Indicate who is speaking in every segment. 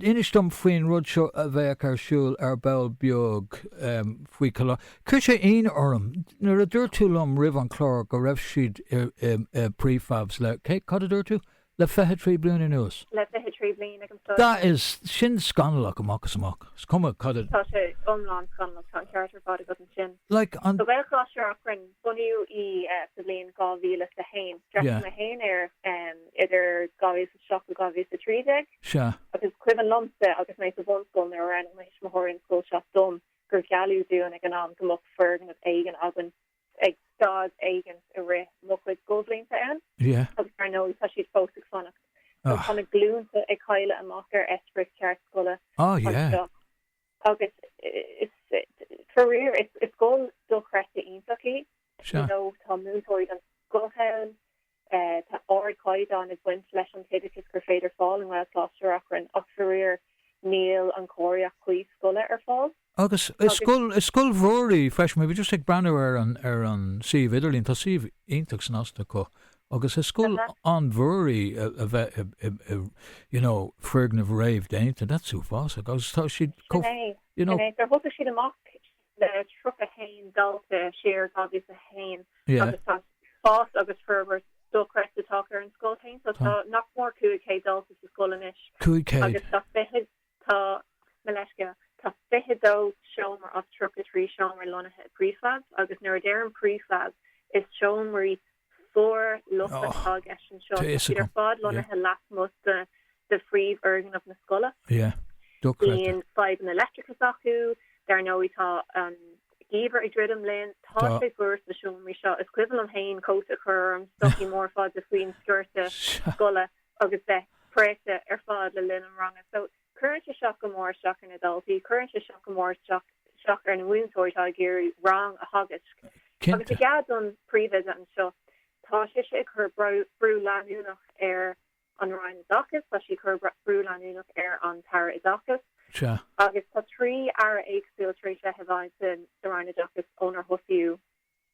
Speaker 1: Inis dom faoin rud seo a bheidh ar siúl ar ball beag faoi Coláiste na. Chuir sé ionadh orm nuair a dúirt tú liom roimh an chlár go raibh siad i prefabs le, cad a dúirt tú? le fiche trí bliana anuas? le fiche trí
Speaker 2: bliana ag an scoil. That is,
Speaker 1: sin scannalach amach is amach, is cuma cad a. Tá sé
Speaker 2: iomlán scannalach, tá an ceart ar fad agat ansin.
Speaker 1: Like an. Sa
Speaker 2: Gaelcholáiste Reachrann, bunaíodh í sa bhliain 2001, d'fhreastail mé féin air idir 2000. 7 go 2013.
Speaker 1: Sea. Agus is cuimhin
Speaker 2: liomsa agus mé sa bhunscoil nuair a roghnaigh mo thuismitheoirí an scoil seo dom gur gealladh dúinn ag an am go mbeadh foirgneamh éigin againn ag staid éigin i rith mo chuid scoilbhlianta ann. Sea. Agus dar ndóigh
Speaker 1: tá
Speaker 2: siad fós ag fanacht. Agus tá na glúnta ag cailleadh amach ar eispéireas ceart scoile
Speaker 1: anseo.
Speaker 2: Agus is, faraor, is scoil dochreidte iontach í. Sea. You know, tá
Speaker 1: múinteoirí
Speaker 2: den scoth ann. Tá ardchaighdeán ag baint leis an t-oideachas gur féidir fáil i nGaelcholáiste Reachrann ach faraor níl an chóiríocht chuí scoile ar fáil.
Speaker 1: Agus is scoil mhór í freisin, bhí mé just ag breathnú ar an suíomh idirlín, tá suíomh iontach snasta acu agus is scoil an-mhór í a bheith i you know foirgneamh réamhdhéanta, that's uafásach agus tá siad chomh, you know. Sin
Speaker 2: é, thosaigh siad amach le 31 dalta siar 2001 agus tá fás agus forbairt dochreidte tagtha ar an scoil féin, so tá nach mór 500 dalta sa scoil anois agus
Speaker 1: tá
Speaker 2: 20, tá mo leithscéal, tá 22 seomra as 33 seomra lonnaithe i prefab agus nuair a deirim prefab is seomraí fíorlochtach atá i gceist anseo. Tá siad ar fad lonnaithe lasmuigh de de phríomhfhoirgneamh na scoile.
Speaker 1: Bíonn
Speaker 2: fadhbanna leictreachais acu, dar ndóigh. Tá an geimhreadh ag druidim linn. Tá sé fuar sna seomraí seo. Is cuimhin liom féin cóta a chur orm, stocaí móra fada faoin sciorta scoile agus bheith préachta ar fad le linn an ranga. Cuireann sé seo go mór isteach ar na daltaí, cuireann sé seo go mór isteach ar na múinteoirí atá ag iarraidh rang a theagasc. Agus i gceart don phríomhoide anseo, tá sise ag cur brú leanúnach ar an Roinn Oideachais, tá sí ag cur brú leanúnach ar an tAire Oideachais. Agus
Speaker 1: tá trí
Speaker 2: Aire éagsúil tar éis bheith i bhfeighil sa Roinn Oideachais ónar thosaíodh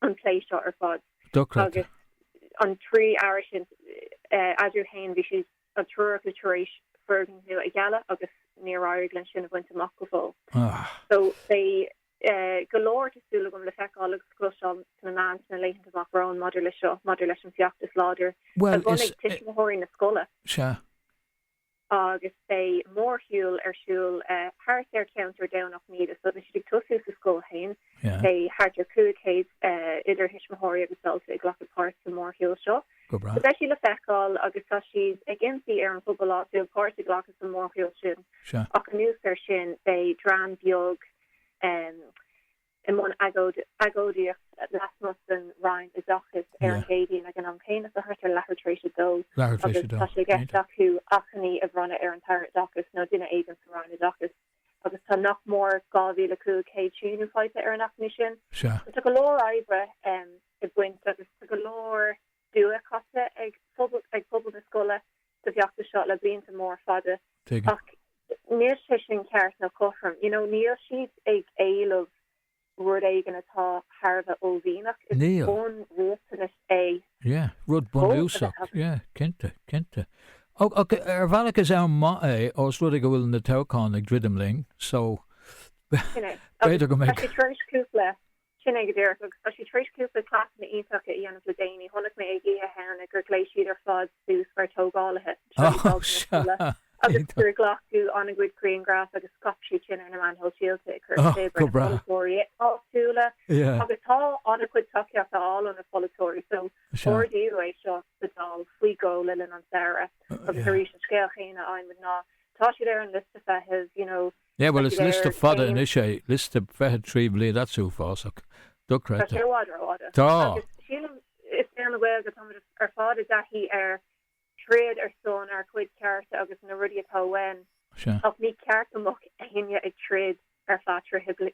Speaker 2: an plé seo ar fad. Dochreidte. Agus an trí Aire sin eatarthu féin bhí siad an triúr acu tar éis foirgneamh a ghealladh agus níor éirigh linn sin a bhaint amach go fóill. So, beidh go leor, tá súil agam, le feiceáil agus cloisteáil sna meáin sna laethanta amach romhainn maidir leis seo, maidir leis an bhfeachtas láidir a bhunaigh
Speaker 1: tuismitheoirí
Speaker 2: na scoile. Sea. agus beidh mórshiúl ar siúl thart ar cheantar Dhomhnach Míde. So beidh siad ag tosú sa scoil fhéin. Beidh thart ar 500 idir thuismitheoirí agus daltaí ag glacadh páirt sa mórshiúl seo. Go breá. So beidh sí le feiceáil agus tá siad ag impí ar an phobal áitiúil páirt a ghlacadh sa mórshiúl sin. Sea. Ach anuas air sin beidh dream beag i mbun agóidíocht lasmuigh den Roinn Oideachais ar an gCéadaoin ag an am céanna thart ar leathuair tar éis a dó agus tá sé i gceist acu achainí a bhronnadh ar an tAire Oideachais nó duine éigin sa Roinn Oideachais agus tá nach mór 2,500 síniú faighte ar an achainí sin. So tá go leor oibre ag baint agus tá go leor dua caite ag pobal na scoile sa bhfeachtas seo le blianta mór fada ach níl sé sin ceart nó cothrom. You know, níl siad ag éileamh rud éigin atá thar a bheith uaillmhianach. Is bunriachtanais é. Yeah, rud
Speaker 1: bunúsach. Yeah. Cinnte, cinnte. Ach ar bhealach is am maith é ós rud é go bhfuil na toghcháin ag druidim linn so b'fhéidir go mbeidh. Sin é go díreach, agus tá siad tar éis cúpla cleasanna iontacha a dhéanamh le déanaí. Chonaic mé ag Oíche Shamhna gur ghléas siad ar fad suas mar tógálaithe agus gur glacadh an-chuid grianghraf agus scaip siad sin ar na meáin shóisialta ag cur spéis ar na polaiteoirí áitiúla agus tá an-chuid tacaíocht á fháil ó na polaiteoirí so ardaíodh é seo sa Dáil faoi dhó le linn an samhradh agus arís an scéal chéanna a fhaighimid ná tá siad ar an liosta feithimh you know Yeah bhuel is liosta fada anois é liosta 23 bliain that's uafásach. Dochreidte. Tá sé i bhfad rófhada.
Speaker 2: Tá. Agus sílim is mé an Ghaeilge atá muid ar fad i dtaithí ar troid ar son ár gcuid cearta agus na rudaí atá uainn Sea. ach ní ceart go mbeadh éinne ag troid ar feadh tréimhse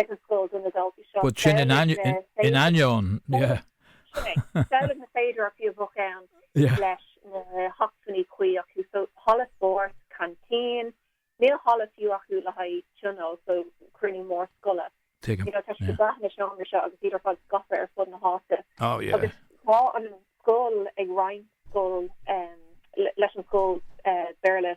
Speaker 1: ag an scoil do na daltaí seo. But
Speaker 2: sin in ainneoin. Sin é.
Speaker 1: Samhlaigh na féidearthachtaí a bheadh ann leis na hacmhainní cuí acu, so halla spóirt, canteen, níl halla fiú acu le haghaidh tionól, so cruinniú mór scoile. You know, tá siad ag brath ar na seomraí seo agus iad ar fad scaipthe ar fud na háite. Agus tá an scoil ag roinnt scoil leis an scoil Béarla.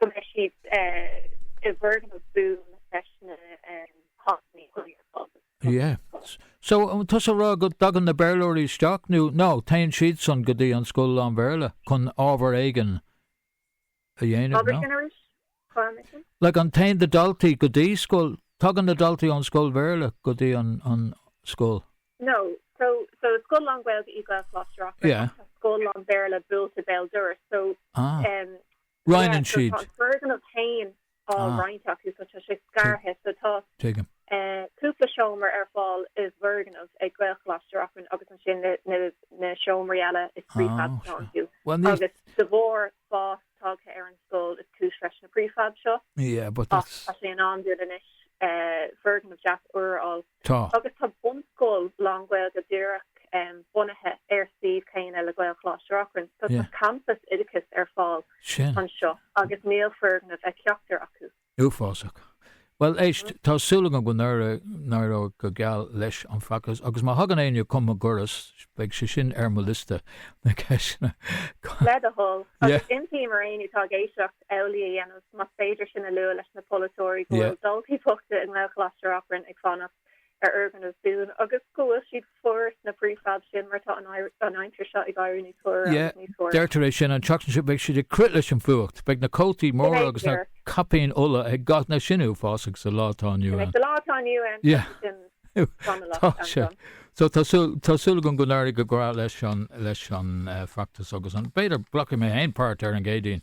Speaker 1: go mbeidh siad i bhfoirgneamh buan leis na
Speaker 2: hacmhainní cuí ar fáil. Yeah. So, tá tusa a rá go dtagann na Béarlóirí isteach nó, no, téann siadsan go dtí an scoil lán-Bhéarla chun ábhar éigin a dhéanamh, no? Abair sin arís? Gabh mo leithscéal? Like, an téann na daltaí go dtí scoil, tagann na daltaí ón scoil Bhéarla go dtí an, an, scoil? No,
Speaker 1: so, so is scoil lán-Ghaeilge í Gaelcholáiste Reachrann Yeah. ach tá
Speaker 2: scoil
Speaker 1: lán-Bhéarla buailte béal dorais, so, Ah. em,
Speaker 2: Roinneann yeah, so siad. tá an foirgneamh féin
Speaker 1: á Ah. roinnt acu, so tá sé scartha, so tá, Tuigim.
Speaker 2: eh, cúpla
Speaker 1: seomra ar fáil i bhfoirgneamh ag Gaelcholáiste Reachrann agus ansin na, na, na seomraí eile is Ah, prefabs atá sure. acu Bhuel, níl, agus de bharr, fás tagtha ar an scoil is cúis leis na prefabs seo. Yeah, but that's...
Speaker 2: Tá sé in am dúinn anois
Speaker 1: eh, foirgneamh deas úr a fháil. Tá. Agus tá
Speaker 2: bunscoil
Speaker 1: lánGhaeilge díreach um, bunaithe ar suíomh chéanna le Gaelcholáiste Reachrann. So tá campas oideachais ar fáil anseo agus níl foirgneamh ag ceachtar acu.
Speaker 2: Uafásach. Bhuel, éist, tá súil agam go n-éireoidh go geal leis an bhfeachtas agus má thagann éinne chun mo dhoras, beidh sé sin ar mo liosta ceisteanna. Le do thoil. Agus impím ar éinne
Speaker 1: atá ag éisteacht amhlaidh a dhéanamh, más féidir sin a lua leis na polaiteoirí go bhfuil daltaí bochta i nGaelcholáiste Reachrann ag fanacht. ar fhoirgneamh buan agus go bhfuil siad fuar sna prefabs sin mar tá an aimsir seo ag éirí níos fuaire agus níos fuaire. Deirtear é sin,
Speaker 2: an tseachtain seo beidh siad ag crith leis an bhfuacht, beidh na cótaí móra agus na caipíní olla ag gach duine, sin uafásach sa lá atá inniu
Speaker 1: ann.
Speaker 2: Tá sé. So tá súil, tá súil agam go n-éirí go breá leis an, leis an feachtas agus an, b'fhéidir glacfaidh mé féin páirt ar an gCéadaoin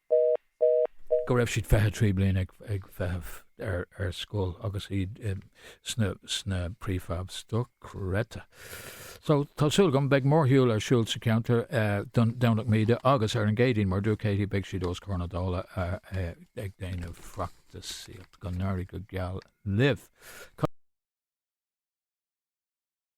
Speaker 2: go raibh siad 23 bliain ag feitheamh ar scoil agus iad sna prefabs dochreidte. So tá súil agam beidh mórshiúl ar siúl sa cheantar Domhnach Míde agus ar an gCéadaoin mar dúirt Katie beidh siad os comhair na Dála ag déanamh feachtasaíocht go n-éirí go geal libh.